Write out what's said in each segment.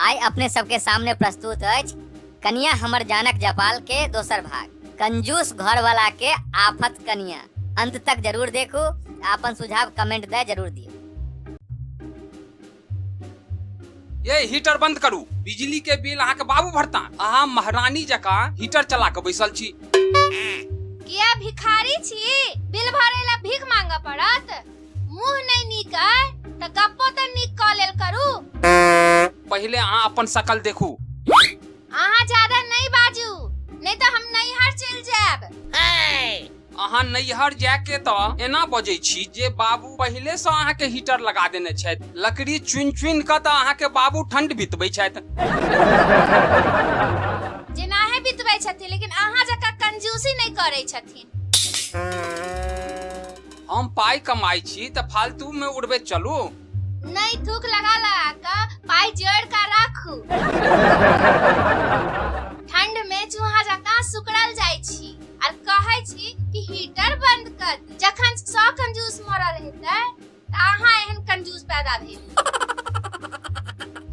आइ अपने सबके सामने प्रस्तुत अछि कनिया हमर जानक जपाल के दोसर भाग कंजूस घर वाला के आफत कनिया अंत तक जरूर देखू आ अपन सुझाव कमेंट दे जरूर दियो ये हीटर बंद करू बिजली के बिल अहाँके बाबू भरता अहाँ महारानी जकाँ हीटर चला के बैसल छी किया भिखारी छी बिल भरे ला भीख मांगा पड़त मुंह नहीं नीक है त गप्पो त नीक क लेल करू पहिले अहाँ अपन शकल देखू अहाँ ज्यादा नहीं बाजू नहीं तो हम नैहर चल जाएब अहाँ नैहर जाके तऽ एना बजै छी जे बाबू पहिले से अहाँ के हीटर लगा देने छथि लकड़ी चुन चुन कऽ तऽ अहाँ के बाबू ठंड बितबै छथि जेनाहे बितबै छथिन लेकिन अहाँ जकाँ कंजूसी नहि करै छथिन हम पाइ कमाइ छी तऽ फालतू में उड़बे चलू नहि थूक लगा लगा कऽ पाइ जोड़ कऽ राखू ठंड में चूहा जकाँ सुकड़ल जाइ छी आर कहै छी कि हीटर बंद कर दी। जखन सौ कंजूस मरल हेतै तऽ अहाँ एहन कंजूस पैदा भेल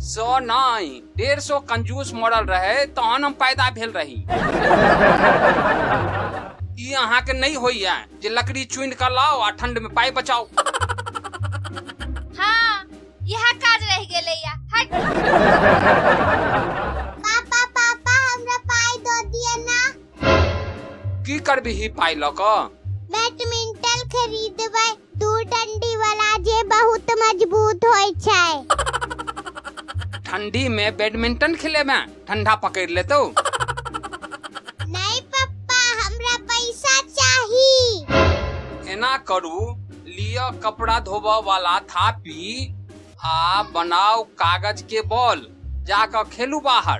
सौ नहि डेढ़ सौ कंजूस मरल रहे तहन हम पैदा भेल रही ई अहाँके नहि होइया जे लकड़ी चुनि कऽ लाओ आ ठंड में पाई बचाओ हाँ यह काज रह गेले या हट पापा पापा हमरा पाई दो दिया ना की करबिही पाइ लऽ कऽ बैडमिंटन खरीदबै दू डंडी वाला जे बहुत मजबूत होइ छै ठंडी में बैडमिंटन खेले में ठंडा पकड़ लेतो नहीं पप्पा हमरा पैसा चाही एना करू लियो कपड़ा धोबऽ वाला थापी आ बनाओ कागज के बॉल जाकर खेलू बाहर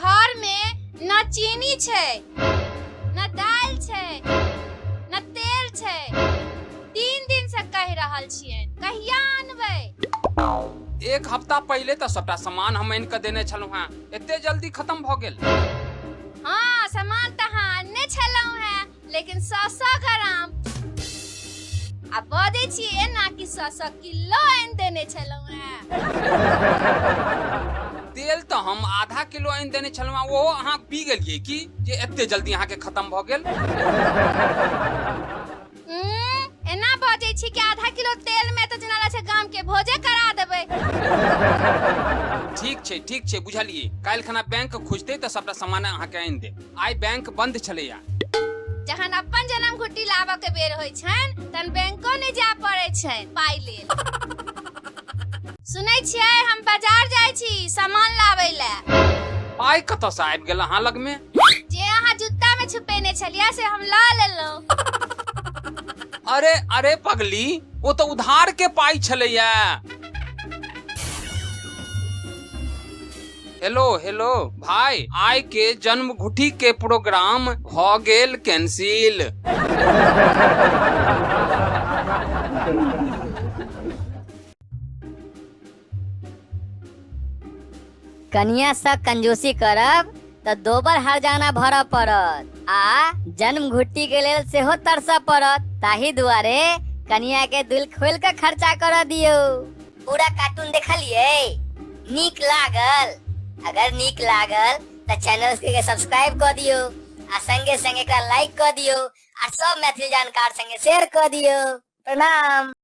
घर में न चीनी छै न दाल छै न तेल छै तीन दिन से कह रहल छियै कहिया आनबै एक हफ्ता पहिले तऽ सबटा सामान हम आनि कऽ देने छलहुँ हेँ एते जल्दी खत्म भऽ गेल हाँ सामान तऽ अहाँ आनने छलहुँ हैं लेकिन सौ सौ ग्राम आ बजै छी एना कि सौ सौ किलो आनि देने छलहुँ हेँ तेल तऽ हम आधा किलो आनि देने छलहुँ हेँ, ओहो अहाँ पी गेलियै की जे एते जल्दी अहाँके खत्म भऽ गेल उम्म, एना बजै छी कि आधा किलो तेल में तऽ जेना लागै छै गाम के भोजे करा देबै ठीक छै ठीक छै बुझलियै काल्हि खना बैंक खुजतै तऽ सबटा सामान अहाँके आनि देब आइ बैंक बंद छलैया जहन अपन जन्म घुट्टी लाबऽ के बेर होइ छनि तहन बैंको नहि जाय पड़ै छनि पाइ लेल सुनै छियै हम बाजार जाइ छी सामान लाबै लए पाइ कतऽसँ आबि गेल अहाँ लगमे जे अहाँ जूता में छुपेने छलियै से हम लऽ लेलहुँ अरे अरे पगली ओ तऽ उधार के पाइ छलैया हेलो हेलो भाई आय के जन्म घुटी के प्रोग्राम भ गेल कैंसिल कनिया से कंजूसी करब त दोबर हर जाना भर पड़त आ जन्म घुट्टी के लेल सेहो तरस पड़त ताही दुआरे कनिया के दिल खोल के खर्चा कर दियो पूरा कार्टून देखलिए नीक लागल अगर नीक लागल तो चैनल के सब्सक्राइब कर दियो आ संगे संगे एकरा लाइक कर दियो आ सब मैथिली जानकार संगे शेयर कर दियो प्रणाम